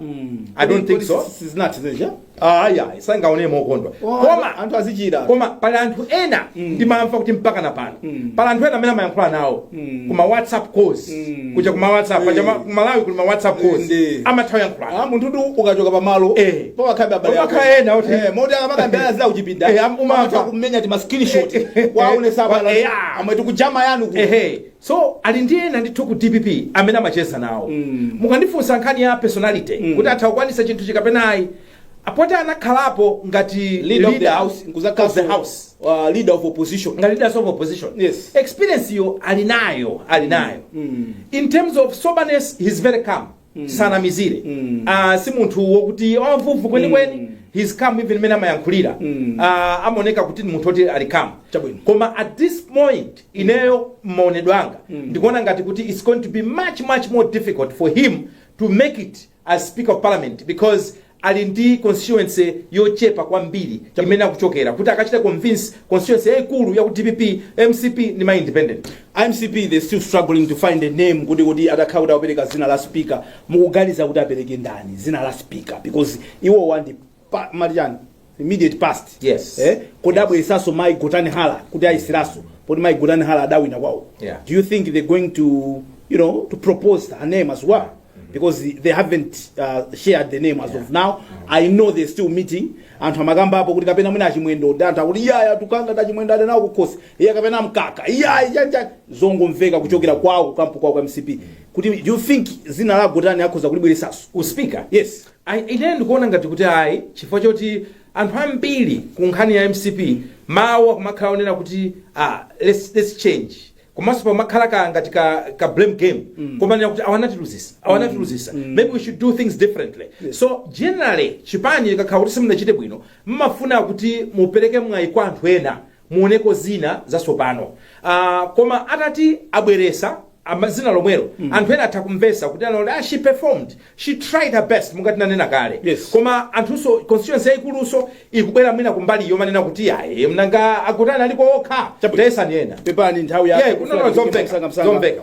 i don't think so zisinathe zija aya sangaonere mokondwa Oh, koma anthu azichira. koma pali anthu ena ndimamva kuti mpaka na pano pali anthu ena amene amayankhula nawo kuma whatsapp calls kuja kuma whatsapp paja ma- ku malawi kuli ma whatsapp calls Ndi. amatha kuyankhulana Ah, munthu tu ukachoka pamalo Eh. pokhalabe abale ako. Pomakhala ena oti- Eh, moti akamakambirana zija kuchipinda Eh, am- umamva. amatha kumenya ti ma screenshot waone Eh, sabala eh, ah. amwe tikujama yanu ku ehe So ali ndi ena ndithu ku dpp amene amacheza nawo. Mukandifunsa nkhani ya personality kuti atha kukwanisa chinthuchi kapena ayi. Poti anakhalapo ngati Leader of the house, of nkuzakhaso, the house. uh, leader of opposition. Ngati leader of opposition. Yes. Experience yo ali nayo, ali nayo. In terms of soberness, he's very calm. Mm. sanamizire Mm. Ah, si munthu wokuti wavuvu kwenikweni Mm. he's calm even mmene amayankhulira Mm. Ah, amaoneka kuti ni munthu oti ali calm Chabwino. koma at this point ineyo mmaonedwe anga Mm. ndikuona ngati kuti it's going to be much much more difficult for him to make it as speaker of parliament because ali ndi constituency yochepa kwambiri imene akuchokera kuti akachita convince constituency yaikulu ya ku dpp mcp ndi ma independent mcp they still struggling to find a name kuti kuti atakhala kuti apereka zina la speaker mukuganiza kuti apereke ndani zina la speaker because iwowa ndi pa- mali chani immediate past Yes. eh kodi abweresaso mai gotani hara kuti ayeseraso poti mai gotani hara adawina kwawo Yeah. do you think they're going to you know to propose her name as well because they haven't uh, shared the name as of now i know they're still meeting anthu amakambapo kuti kapena mwina achimwendo ndi anthu akuti iyaya tikanena za chimwendo ali nawo kukhosi iye kapena amkaka iyayi zija zongomveka kuchokera kwawo kukampu kwawo kwa mcp kuti do you think zina la gotani akhoza kulibweresaso uspika yes I, ine ndikuona ngati kuti ayi chifukwa choti anthu ambiri ku nkhani ya mcp mawu akumakhala onena kuti ah, let's, let's change komanso pamakhala ka ngati ka, ka blame game mm. kumanena kuti awa anatiluzisa awa anatiluzisa mm. maybe we should do things differently yes. so generally chipani likakhala kuti simunachite bwino mmafuna kuti mupereke mwayi kwa anthu ena muoneko zina zasopano uh, koma atati abweresa ama- zina lomwelo mm. anthu ena atha kumvesa kunena kuti ah, she performed she tried her best mungati nanena kale Yes. koma anthunso constituency yayikuluso ikubwera mwina kumbali yomanena kuti aye mnanga a gotani aliko okha Chabwino. tayesani ena pepani nthawi Yeah, no, no, zomveka, zomveka.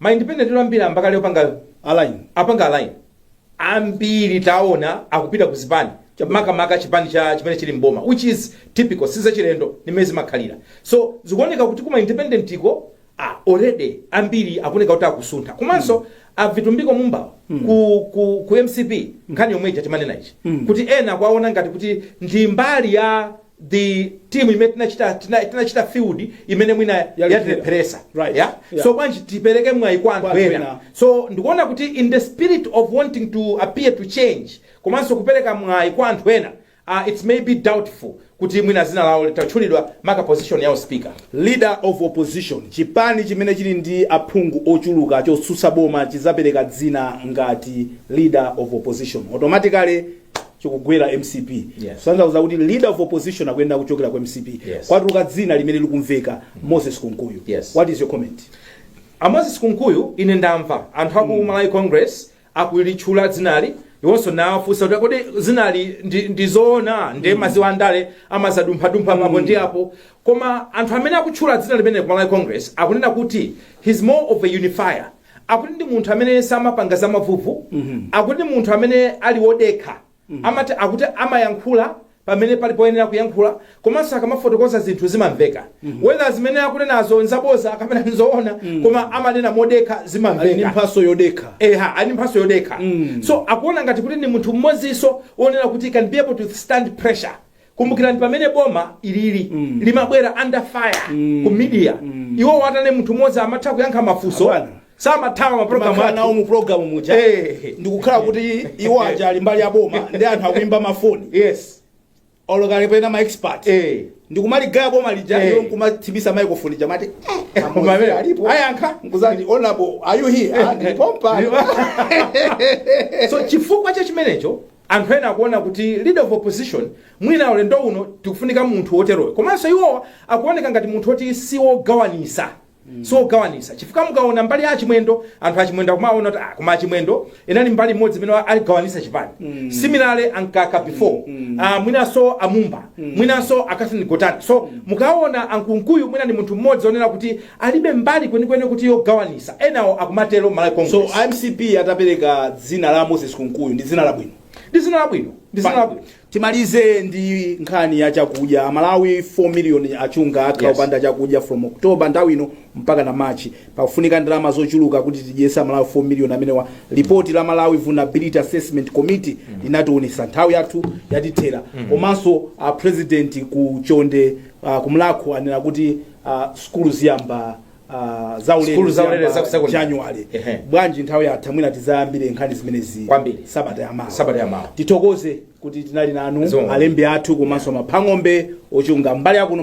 ma independent ambiri ayamba kale kupanga align apanga align ambiri taona akupita ku zipani makamaka chipani cha chimene chili mboma which is typical sizachilendo nimene zimakhalira so zikuoneka kuti kuma independent iko ah, already ambiri akuoneka kuti akusuntha komanso mm. a vitumbiko mumba wo mm. ku, ku, ku mcp nkhani yomwe ija timanena ichi mm. kuti ena akuwaona ngati kuti ndi mbali ya the team imene tinachita tina- tinachita field imene mwina Yalipira. yatilepheresa Right. yeah? Yeah. so bwanji tipereke mwayi kwa anthu ena. so ndikuona kuti in the spirit of wanting to appear to change komanso kupereka mwayi kwa anthu ena uh, it may be doubtful kuti mwina dzina lawo litatchulidwa maka position ya speaker leader of opposition chipani chimene chili ndi aphungu ochuluka chotsutsa boma chizapereka dzina ngati leader of opposition automatically chikugwera mcp Yes. zatanthauza kuti leader of opposition akuyenera kuchokera ku mcp Yes. kwatuluka dzina limene likumveka moses kunkuyu Yes. what is your comment amoses kunkuyu ine ndamva anthu aku malawi congress akulitchula dzinali iwonso nawafunsa kuti kodi dzinali ndi- ndizoona nde mmadziwa andale amazadumphadumpha apa ndi apo koma anthu amene akutchula dzina limene ku malawi congress akunena kuti he's more of a unifier Akuti ndi munthu amene samapanga za mavuvu, akuti ndi munthu amene ali wodekha, amati, akuti amayankhula pamene pali poyenera kuyankhula komanso akamafotokoza zinthu zimamveka whether zimene akunenazo nzaboza kapena nzoona koma amanena modekha Ali ndi zimamveka. mphatso yodekha. Eha, ali ndi mphatso yodekha. So akuona ngati kuti ndi munthu mmodzinso wonena kuti can be able to stand pressure. kumbukirani pamene boma lija limabwera under fire ku media iwo anali munthu mmodzi amatha kuyankha mafunso Abana. samathawa maprogramu mmakhala nawo athu mu programu muja Eh. ndikukhala kuti iwo aja ali mbali ya boma ndi anthu akuimba mafoni yes olokale pena ma expert eh ndikumaligaya boma lija Eh. iwo nkumathimitsa microphone ija amati eh, amodzi Kumamvera. alipo Ayankha. nkudzati honorable are you here Ah, ndilipompa so chifukwa cha chimenecho Anthu ena akuona kuti leader of opposition mwina ulendo uno tikufunika munthu woteroyo komanso iwowa akuoneka ngati munthu woti si wogawanisa si wogawanisa chifukwa mukaona mbali ya a Chimwendo anthu a Chimwendo akumaona kuti ah, koma a Chimwendo anali mbali imodzi imene anagawanisa chipani similarly a Mkaka before ah, mwinanso a Mumba mwinanso a Catherine Gotani so mukaona a Kunkuyu mwina ndi munthu mmodzi onena kuti alibe mbali kwenikweni kuti yogawanisa, enawo akumatero m'Malawi So Congress. a mcp atapereka dzina la Moses Kunkuyu ndi dzina labwino. Ndi dzina labwino, ndi dzina labwino. Timalize ndi nkhani ya chakudya. Amalawi 4 million achunga akhala Yes. opanda chakudya from October nthawi ino mpaka na March. Pakufunika ndalama zochuluka kuti tidyetse Amalawi 4 million amenewa. Lipoti la Malawi Vulnerability Assessment Committee linationetsa nthawi yathu yatithera. Komanso a president ku Chonde uh, ku Mulhako anena kuti ah, sukulu ziyamba ah, zaulere Sukulu zaulere ziyamba za ku secondary. January Ehe. bwanji nthawi yatha mwina tizayambire nkhani zimenezi Kwambiri. sabata yamawa Sabata yamawa. tithokoze kuti tinali nanu Zikomo. alembi athu komanso maphang'ombe ochunga mbali yakuno